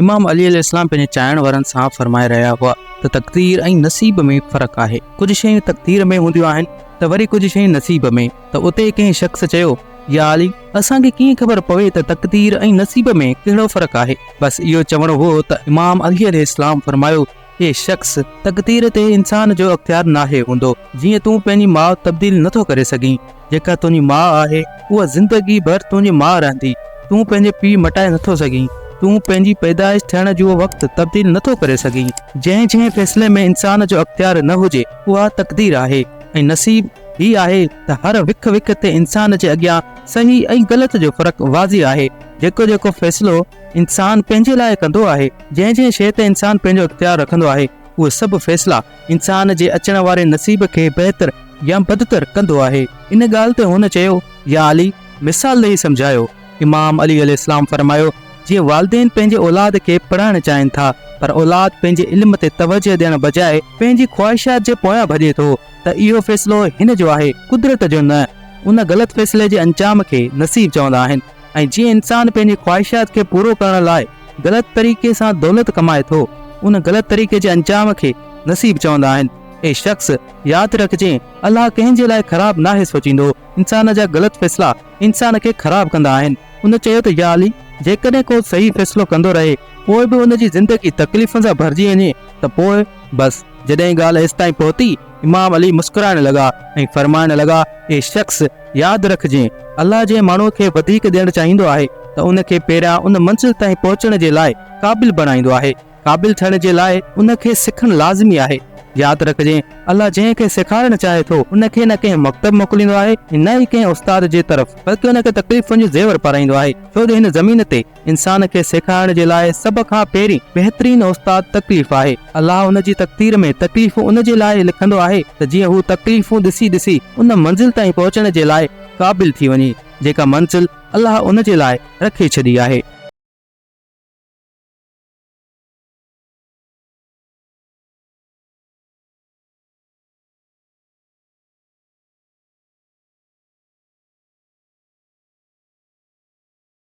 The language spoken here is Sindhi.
امام علي عليه السلام پنهنجي چاهڻ وارن سان فرمائي رهيا هئا ته تقدير ۽ نصيب ۾ فرق آهي ڪجهه شيون تقدير ۾ هونديون آهن ته وري ڪجهه شيون نصيب ۾ ته اتي ڪنهن شخص چيو يا علي اسان کي ڪيئن خبر پوي ته تقدير ۽ نصيب ۾ ڪهڙو فرق آهي بس اهو چوڻو هو ته امام علي عليه السلام فرمايو اي شخص! تقدير تي انسان جو اختيار ناهي هوندو. جيئن تون پنهنجي ماء تبديل نٿو ڪري سگهين. جيڪا تنهنجي ماء آهي، اها زندگي ڀر تنهنجي ماء رهندي. تون پنهنجي پيء مٽائي نٿو سگهين. تون پنهنجي پيدائش ٿيڻ جو وقت تبديل نٿو ڪري سگهين. جنهن جنهن فيصلي ۾ انسان جو اختيار نه هجي، اها تقدير آهي ۽ نصيب هي آهي ته هر وک وک تي انسان جي اڳيان صحيح ۽ غلط جو فرق واضح آهي. جيڪو جيڪو فيصلو انسان پنهنجي لاء ڪندو آهي. جنهن جنهن شيء تي انسان پنهنجو اختيار رکندو آهي، اهي سڀ فيصلا انسان جي اچڻ واري نصيب کي بهتر يا بدتر ڪندو آهي. ان ڳالهه تي هن چيو، يا علي! مثال ڏيئي سمجهايو. امام علي عليه السلام فرمايو، جيئن والدين پنهنجي اولاد کي پڙهائڻ چاهين ٿا، پر اولاد پنهنجي علم تي توجهه ڏيڻ بجاء پنهنجي خواهشات جي پويان ڀڄي ٿو ته اهو فيصلو هن جو آهي، قدرت جو نه. ان غلط فيصلي جي انجام کي نصيب چوندا آهن. ۽ جيئن انسان پنهنجي خواهشات کي پورو ڪرڻ لاء غلط طريقي سان دولت ڪمائي ٿو، ان غلط طريقي جي انجام کي نصيب چوندا آهن. اي شخص! ياد رکجين، الله ڪنهن جي لاء خراب ناهي سوچيندو، انسان جا غلط فيصلا انسان کي خراب ڪندا آهن. هن چيو ته يا علي! جيڪڏهن ڪو صحيح فيصلو ڪندو رهي، پوء به ان جي زندگي تڪليفن سان ڀرجي وڃي ته پوء؟ بس، جڏهن ڳالهه ايستائين پهتي، امام علي مسڪرائڻ لڳا ۽ فرمائڻ لڳا، اي شخص! ياد رک جي الله جنهن ماڻهو کي وڌيڪ ڏيڻ چاهيندو آهي ته ان کي پهريان ان منزل تائين پهچڻ جي لاء قابل بڻائيندو آهي قابل ٿيڻ جي لاء ان کي سکڻ لازمي آهي ياد رک جي الله جنهن کي سيکارڻ چاهي ٿو ان کي نه ڪنهن مڪتب موڪليندو آهي ۽ نه ئي ڪنهن استاد جي طرف بلڪه ان کي تڪليفن جو زيور پارائيندو آهي ڇو جو هن زمين تي انسان کي سيکارڻ جي لاء سڀ کان پهرين بهترين استاد تڪليف آهي. الله ان جي تقدير ۾ تڪليفون ان جي لاء لکندو آهي ته جيئن هو تڪليفون ڏسي ڏسي ان منزل تائين پهچڻ جي لاء قابل ٿي وڃي جيڪا منزل الله ان جي لاء رکي ڇڏي آهي.